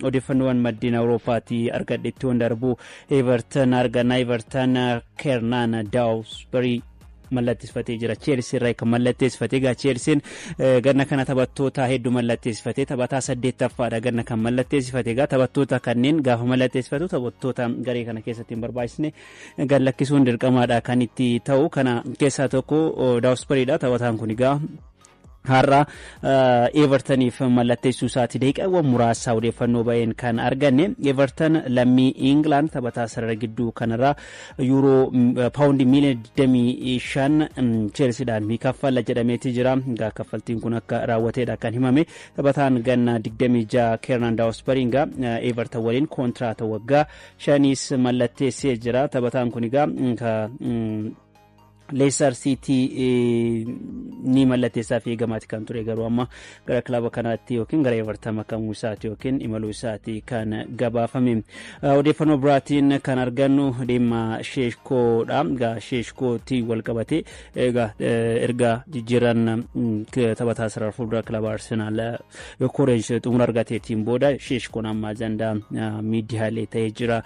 Odeeffannoowwan maddeen Awurooppaatii argadhetti waan darbu Everton arganna Everton Kernaan Daawusbarii mallatteessifatee jira. Cheelsii irraa kan mallatteessifate egaa Cheelsiin ganna kana taphattoota hedduu mallatteessifate taphataa saddeettaffaadha ganna kan mallatteessifate egaa taphattoota kanneen gaafa mallatteessifatu taphattoota garee kana keessatti hin barbaachisne gad lakkisuun dirqamaadha kan itti ta'u kana keessaa tokko Daawusbariidha taphataan kun egaa har'a Evertaniif mallatteessuu isaati daqiiqaawwan muraasa odeeffannoo ba'een kan arganne Evertan lammii Ingilaand taphataa sarara gidduu kanarraa yuuroo paawundii miiliyoona 25 Cheelsiidhaan ni kaffalla jedhameeti jira. Egaa kaffaltiin kun akka raawwateedha kan himame taphataan ganna 26 Keernan Daawusbariinga Evertan waliin kontiraata waggaa shaniis mallatteessee jira. Taphataan kun egaa Leestar Siitii ni mallatteessaaf eegamaati kan ture garuu amma gara kilaba kanaatti yookiin gara Everton makamuu isaati yookiin imaluu isaati kan gabaafame. Odeeffannoo biraatiin kan argannu dhimma Sheeshkoodha. Egaa Sheeshkootti wal qabatee egaa erga jijjiiran taphataa sarara fuuldura kilaba Arsenaal Koreej xumura argateetiin booda Sheeshkoon amma ajandaa miidiyaalee ta'ee jira.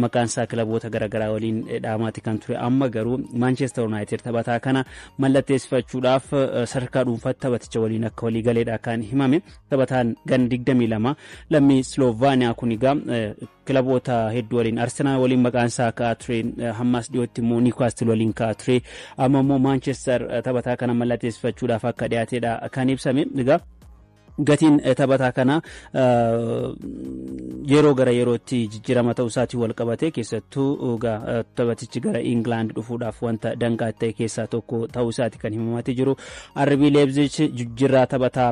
Maqaan isaa kilaboota garaagaraa waliin dhaamaati kan ture. Amma garuu Maanchestar Yuunaayitid taphataa kana mallatteessifachuudhaaf sadarkaa dhuunfaatti taphaticha waliin akka walii galeedha kan himame. Taphataan gan 22 lammii Sloovaaniyaa kun egaa Kilaboota hedduu waliin Arsenaal waliin maqaan isaa ka'aa ture. Hammas dhiyootti immoo Niwkaastil waliin ka'aa ture. Amma immoo Maanchestar taphataa kana mallatteessifachuudhaaf akka dhiyaatedha kan ibsame. Egaa gatiin taphataa kana yeroo gara yerootti jijjiirama ta'uu isaatiin wal qabatee keessattuu taphatichi gara Ingilaand dhufuudhaaf wanta danqaa ta'e keessaa tokko ta'uu isaati kan himamaa jiru. Arbii Leebzich jijjiirraa taphataa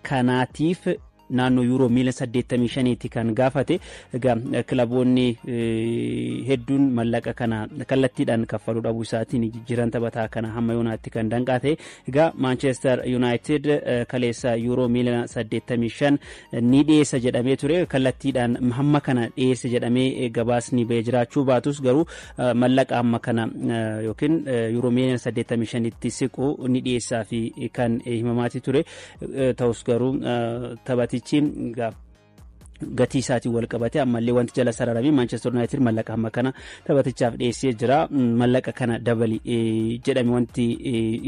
kanaatiif naannoo yuuroo miiliyoona 85ti kan gaafate. Egaa kilaboonni hedduun mallaqa kana kallattiidhaan kaffaluu dhabuu isaatiin jijjiiran taphataa kana hamma yoonaatti kan danqaa ta'e. Egaa Maanchestar Yuunaayitid kaleessa yuuroo miiliyoona 85 ni dhiyeessa jedhamee ture. Kallattiidhaan hamma kana dhiyeesse jedhamee gabaasni ba'ee jiraachuu baatus garuu mallaqa hamma kana yookiin yuuroo miiliyoona 85tti siqu ni dhiyeessaa fi kan himamaati ture. Ta'us garuu taphatichi gatii isaatiin wal qabate ammallee wanti jala sararame Manchester United mallaqa hamma kana taphatichaaf dhiyeessee jira. Mallaqa kana dabali jedhame wanti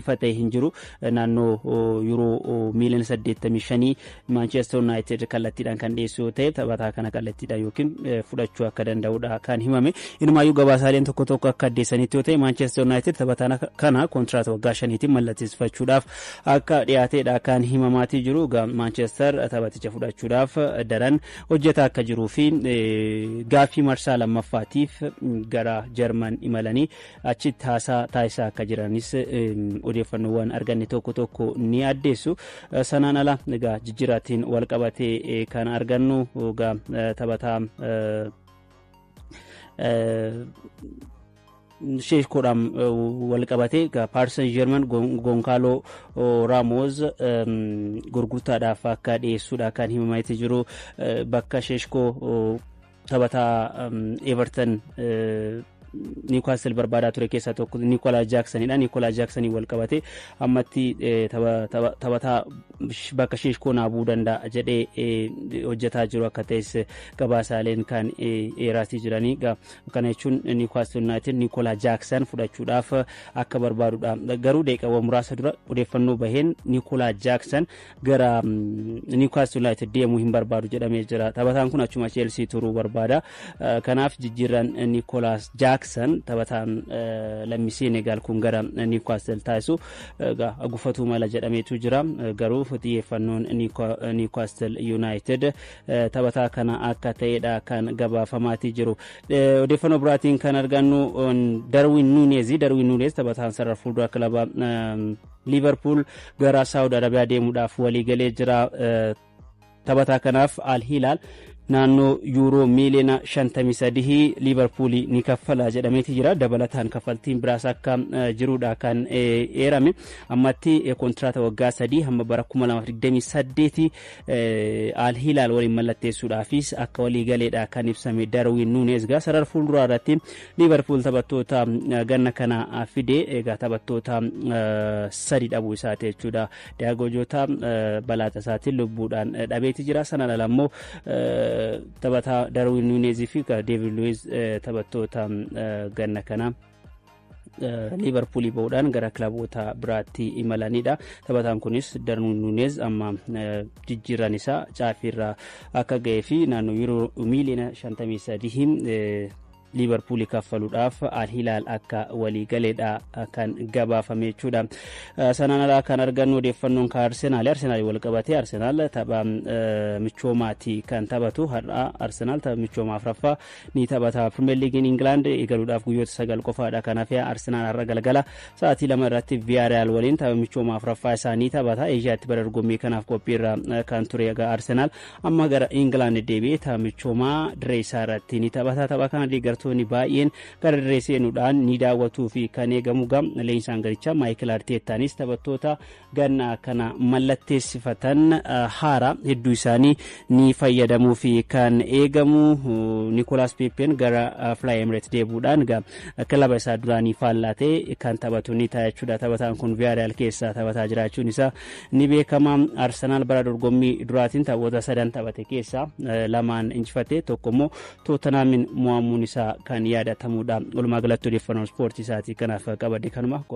ifa ta'e hin jiru. Naannoo yuuroo miiliyoona saddeettamii shanii Manchester United kallattiidhaan kan dhiyeessu yoo ta'e taphataa kana kallattiidhaan yookiin fudhachuu akka danda'udha kan himame. Inumaayyuu gabaasaaleen tokko tokko akka addeessanitti yoo ta'e Manchester United taphataa kana kontiraata waggaa shaniitiin mallatteessifachuudhaaf akka dhiyaateedha kan himamaatii jiru. Egaa Maanchester taphaticha fudhachuudhaaf daran hojjetaa akka jiruu fi gaaffii marsaa lammaffaatiif gara Jarman imalanii achitti haasaa taasisaa akka jiranis odeeffannoowwan arganne tokko tokko ni addeessu. Sanaan ala egaa jijjiiraatiin wal qabatee kan argannu egaa taphataa sheeshkoodhaan wal qabatee Paris Saint Germain Gonkaaloo Raamoos gurgurtaadhaaf akka dhiyeessuudha kan himamaa jiru bakka sheeshkoo taphataa Everton Niwkaastil barbaadaa ture keessaa tokko Nikolaa Jaaksanidha. Nikolaa Jaaksanii wal qabatee ammatti taphataa bakka sheeshkoo naabuu danda'a jedhee hojjetaa jiru akka ta'es gabaasaaleen kan eeraatii jiranii. Kana jechuun Niwukaastil Yuunaayitid Niikoolaa Jaaksan fudhachuudhaaf akka barbaadudha. Garuu daqiiqaawwan muraasa dura odeeffannoo baheen Niikoolaa Jaaksan gara Niwukaastil Yuunaayitid deemuu hin barbaadu jedhamee jira. Taphataan kun achuma Cheelsii turuu barbaada. Kanaaf jijjiirraan Niikoolaas Jaaksan taphataan lammii Seenegaal kun gara Niwukaastil taasisu gufatuu mala jedhameetu jira. Garuu xiyyeeffannoon Niwukaastil Yuunaayitid taphataa kana akka ta'edha kan gabaafamaatii jiru. Odeeffannoo biraatiin kan argannu Darwin Nuunez Darwin Nuunez taphataan sarara fuuldura kilaba Liiverpuul gara Saawud Arabiyaa deemuudhaaf waliigalee jira. Taphataa kanaaf Al Hilaal naannoo yuuroo miiliyoona 53 liivarpuulii ni kaffala jedhameeti jira dabalataan kaffaltiin biraas akka jirudha kan eerame ammatti kontiraata waggaa sadii hamma bara 2028 Al Hilaal waliin mallatteessuudhaafis akka walii galeedha kan ibsame Darwin Nuunez egaa sarara fuulduraa irratti Liivarpuul taphattoota ganna kana fide egaa taphattoota sadi dhabuu isaati jechuudha. Diyaagoo Jootaa balaa tasaatiin lubbuudhaan dhabeeti jira. Sanaan ala immoo taphataa Darwin Nuunez fi Deevid Luwiz taphattoota ganna kana liivarpuulii ba'uudhaan gara kilaboota biraatti imalanidha. Taphataan kunis Darwin Nuunez amma jijjiirran isaa caafiirra akka ga'ee fi naannoo yuuroo miiliyoona 53 liivarpuulii kaffaluudhaaf alhilaal akka walii galeedha kan gabaafame jechuudha. Sanaan alaa kan argannu odeeffannoon kan Arsenaali. Arsenaali wal qabatee Arsenaal tapha michoomaati kan taphatu. Har'a Arsenaal tapha michoomaa afraffaa ni taphata. Pirimeer Liigiin Ingilaand eegaluudhaaf guyyoota sagal qofaadha kan hafe. Arsenaal har'a galgala sa'aatii lama irratti Viyaariyaal waliin tapha michooma afuraffaa isaa ni taphata. Eeshiyaatti bara dorgommii kanaaf qophiirra kan ture egaa Arsenaal amma gara Ingilaand deebi'ee tapha michoomaa dirree isaa irratti ni taphata. Tapha kana deeggartoonni baay'een gara dirree seenuudhaan ni daawwatuu fi kan eegamu gam leenjisaan garichaa Maayikil Arteettaanis taphattoota ganna kana mallatteessifatan haara hedduu isaanii ni fayyadamuu fi kan eegamu Nikolaas Peeppeen gara Fly Emirates deebuudhaan kilaba isaa duraanii faallaa ta'e kan taphatu ni ta'a jechuudha. Taphataan kun Viyaariyaal keessaa taphataa jiraachuun isaa ni beekama. Arsenaal bara dorgommii duraatiin taphoota sadan taphate keessaa lamaan injifate tokko immoo Tootanaamin mo'amuun isaa kan yaadatamudha. Walumaa galatti odeeffannoo ispoortii isaatii kanaaf qabadde kanuma.